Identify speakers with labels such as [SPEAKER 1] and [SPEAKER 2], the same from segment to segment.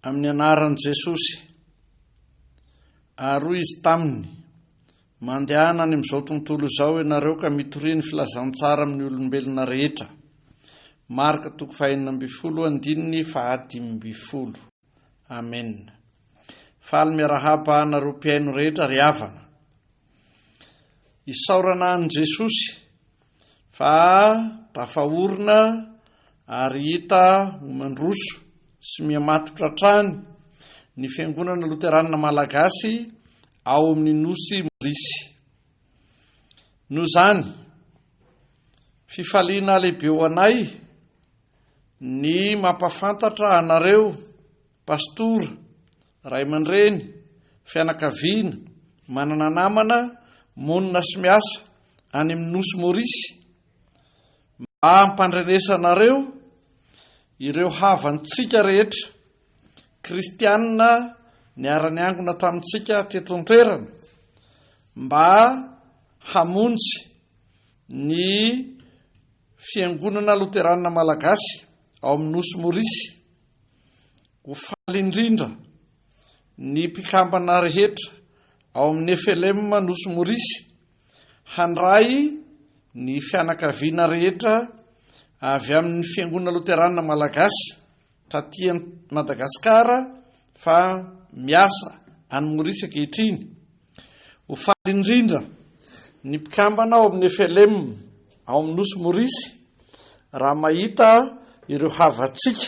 [SPEAKER 1] amin'ny anaran'i Jesosy. Ary hoy izy taminy, mandehana any amin'izao tontolo izao ianareo ka mitoria ny filazantsara amin'ny olombelona rehetra. Marka toko fahenina ambin'ny folo andininy fahadimy ambin'ny folo. Amen. Faly miarahaba anareo mpihaino rehetra ry havana. Isaorana an'i Jesosy fa tafahorina ary hita ho mandroso sy mihamatotra hatrany ny Fiangonana Loteranina Malagasy ao amin'ny Nosy Maorisy. Noho izany, fifaliana lehibe ho anay ny mampafantatra anareo Pastora, ray aman-dreny, fianakaviana, manana namana monina sy miasa any amin'ny Nosy Maurice mba hampandrenesanareo ireo havantsika rehetra kristianina niara-niangona tamintsika teto an-toerana mba hamonjy ny Fiangonana Loteranina Malagasy ao amin'ny Nosy Maurice. Ho faly indrindra ny mpikambana rehetra ao amin'ny FLM Nosy Morisy handray ny fianakaviana rehetra avy amin'ny Fiangonana Loterana Malagasy taty Madagasikara fa miasa any Morisy ankehitriny. Ho faly indrindra ny mpikambana ao amin'ny FLM. ao amin'ny nosy Maurice raha mahita ireo havantsika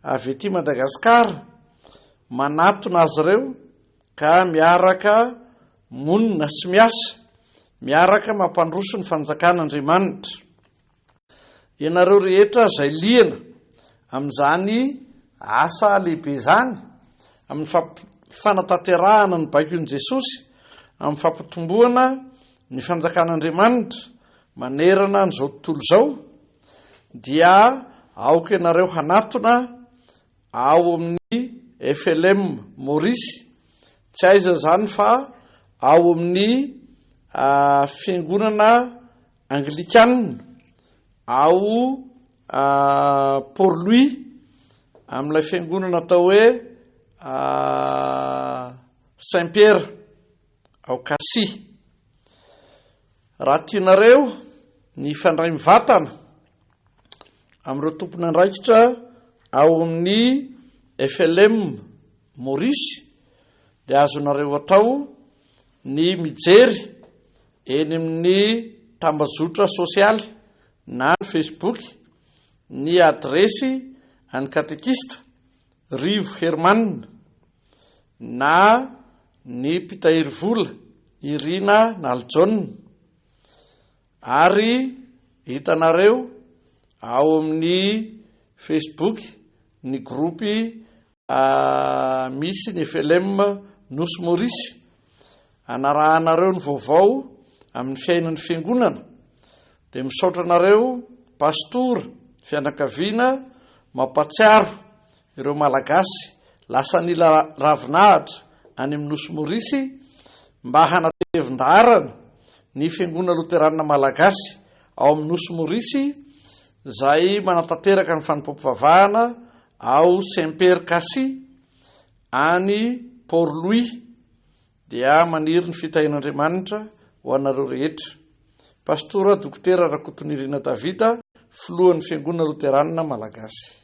[SPEAKER 1] avy ety Madagasikara manatona azy ireo ka miaraka monina sy miasa miaraka mampandroso ny fanjakan'Andriamanitra. Ianareo rehetra izay liana amin'izany Asa lehibe izany amin'ny fanatanterahana ny baikon'i Jesosy amin'ny fampitomboana ny Fanjakan'Andriamanitra manerana an'izao tontolo izao, dia aoka ianareo hanatona ao amin'ny FLM Maurice, tsy aiza izany fa ao amin'ny Fiangonana Anglikana ao Port Louis amin'ilay fiangonana atao hoe Saint Pierre ao Kasi. Raha tianareo ny hifandray mivatana amin'ireo tompon'andraikitra ao amin'ny FLM Maurice dia azonareo atao ny mijery Eny amin'ny tambajotra sosialy na ny Facebook, ny adiresy an'ny katekista Rivo Herman na ny mpitahiry vola Irina Nalijaona ary hitanareo ao amin'ny Facebook ny gropy Misy ny FLM Nosy Maurice hanarahanareo ny vaovao amin'ny fiainan'ny fiangonana dia misaotra anareo pastora fianakaviana mampatsiaro ireo malagasy lasa nila ravinahitra any amin'ny Nosy Maurice mba hanatevin-daharana ny fiangonana loteranina malagasy ao amin'ny Nosy Maurice izay manatanteraka ny fanompoam-pivavahana Ao Semper Kasi, any Port Louis, dia maniry ny fitahian'Andriamanitra ho anareo rehetra. Pastora Dokotera Rakotonirina David, Filohan'ny Fiangonana Loteranina Malagasy.